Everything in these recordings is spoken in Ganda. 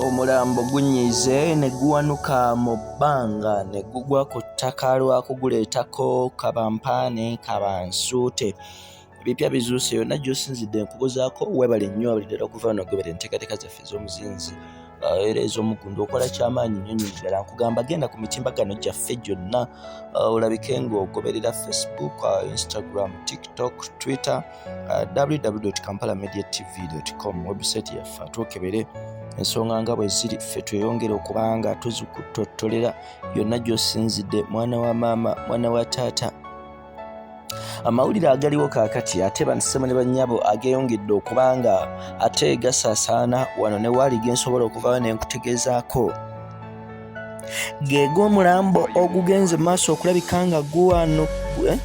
omulambo gunyiize ne guwanuka mu bbanga ne gugwa ku ttaka lwa kuguleetako kabampaane kabansuute ebipya bizuuse yonna gyosinzidde nkubuzaako webale nnyo abalidala okuva no gobera enteekateeka zaffe ez'omuzinzi uh, era ez'omuggundu okola kyamaanyi nnyo nnyo ddala nkugamba genda ku mitimbagano gyaffe gyonna uh, olabike ng'ogoberera facebook uh, instagram tiktok twitter uh, uh, www kampala media tv com website yaffe twokebere ensonga nga bwe ziri ffe tweyongere okubanga tuzikutottolera yonna gy'osinzidde mwana wa maama mwana wa taata amawulire agaliwo kaakati ate bansema ne bannyabo ageyongedde okubanga ate gasaasaana wano ne waali ge nsobola okuvawo ne nkutegeezaako geega omulambo ogugenze maaso okulabika nga guwano eh?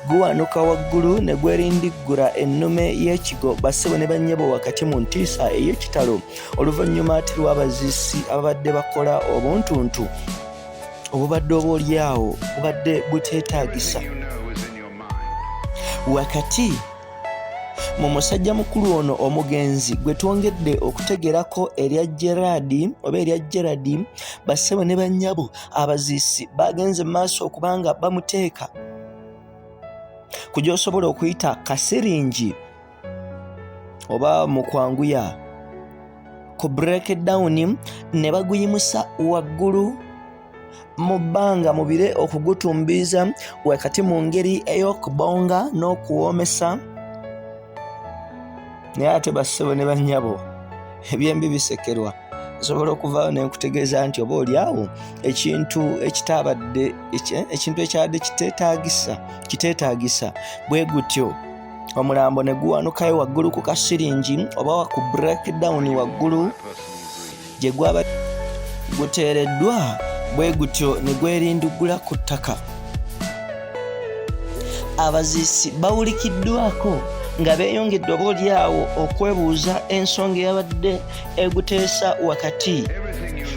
guwanuka waggulu ne gwerindiggura ennume y'ekigo bassebo ne bannyabo wakati mu ntiisa ey'ekitalo oluvannyuma ati lw'abazisi ababadde bakola obuntuntu obubadde obaolyawo bubadde buteetaagisa wakati mu musajja mukulu ono omugenzi gwe twongedde okutegerako erya gerard oba erya gerard bassebo ne bannyabo abaziisi baagenze mu maaso okubanga bamuteeka ku gy'osobola okuyita kasiringi oba mu kwanguya ku breakdown ne baguyimusa waggulu mu bbanga mu bire okugutumbiiza wakati mu ngeri ey'okubonga n'okuwoomesa naye ate bassebo ne bannyabo ebyembi bisekerwa nsobola okuvaawo nenkutegeeza nti oba olyawo ekintu ekitabadde ekintu ekyabadde kitetagisa kiteetagisa bwe gutyo omulambo ne guwanukayo waggulu ku kasiringi oba ku breakdown waggulu gye gwaba guteereddwa bwe gutyo ne gwerinduggula ku ttaka abaziisi bawulikiddwako nga beeyongedde oba olyawo okwebuuza ensonga eyabadde eguteesa wakati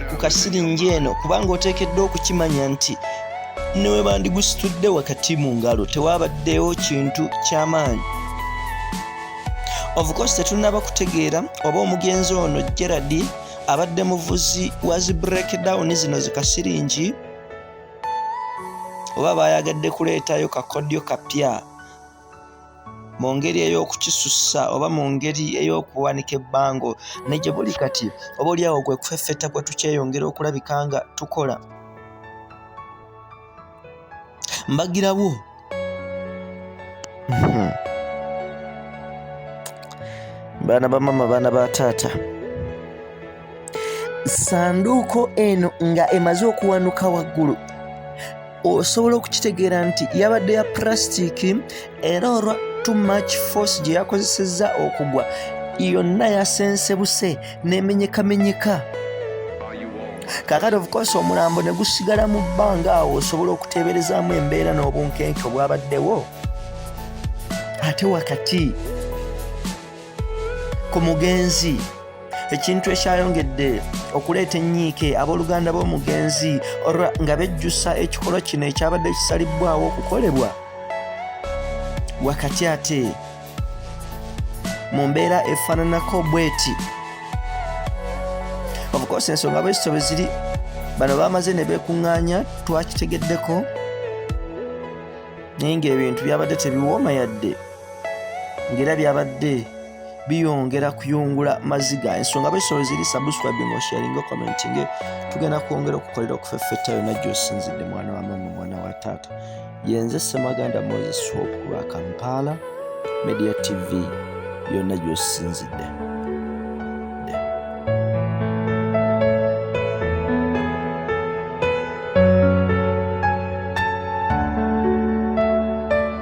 ku kasiringi eno kubanga oteekeddwa okukimanya nti newebandigusitudde wakati mu ngalo tewabaddewo kintu ky'amaanyi ofukosi tetunaba kutegeera oba omugenzi ono gerard abadde muvuzi wa zi breakdown zino zikasiringi oba bayagadde kuleetayo kakodyo kapya mu ngeri ey'okukisussa oba mu ngeri ey'okuwanika ebbango ne gye buli kati oba oliawo gwe kufeffetta kwe tukyeyongera okulabika nga tukola mbagirawo hmm. baana ba mama baana ba taata sanduuko eno nga emaze okuwanuka waggulu osobola okukitegeera nti yabadde ya purasitiiki era olwa too much force gye yakozesezza okugwa yonna yasensebuse n'emenyekamenyeka kakati ofukosa omulambo ne gusigala mu bbanga awo osobola okuteeberezaamu embeera n'obunkenke obwabaddewo ate wakati ku mugenzi ekintu ekyayongedde okuleeta ennyiike abooluganda b'omugenzi olwa nga bejjusa ekikolwa kino ekyabadde kisalibbwawo okukolebwa wakati ate mu mbeera efaananako bweti obukosa ensonga bwezito bwe ziri bano bamaze ne beekuŋŋaanya twakitegeddeko naye ng'ebintu byabadde tebiwooma yadde ng'era byabadde biyongera kuyungula maziga ensonga besolo ziri subscribing osharinga commentinge tugenda kwongera okukolera okufeffetta yonna gyosinzidde mwana wa mama mwana wa taata yenze semaganda moses hope kulwa kampala media tv yonna gyosinzidde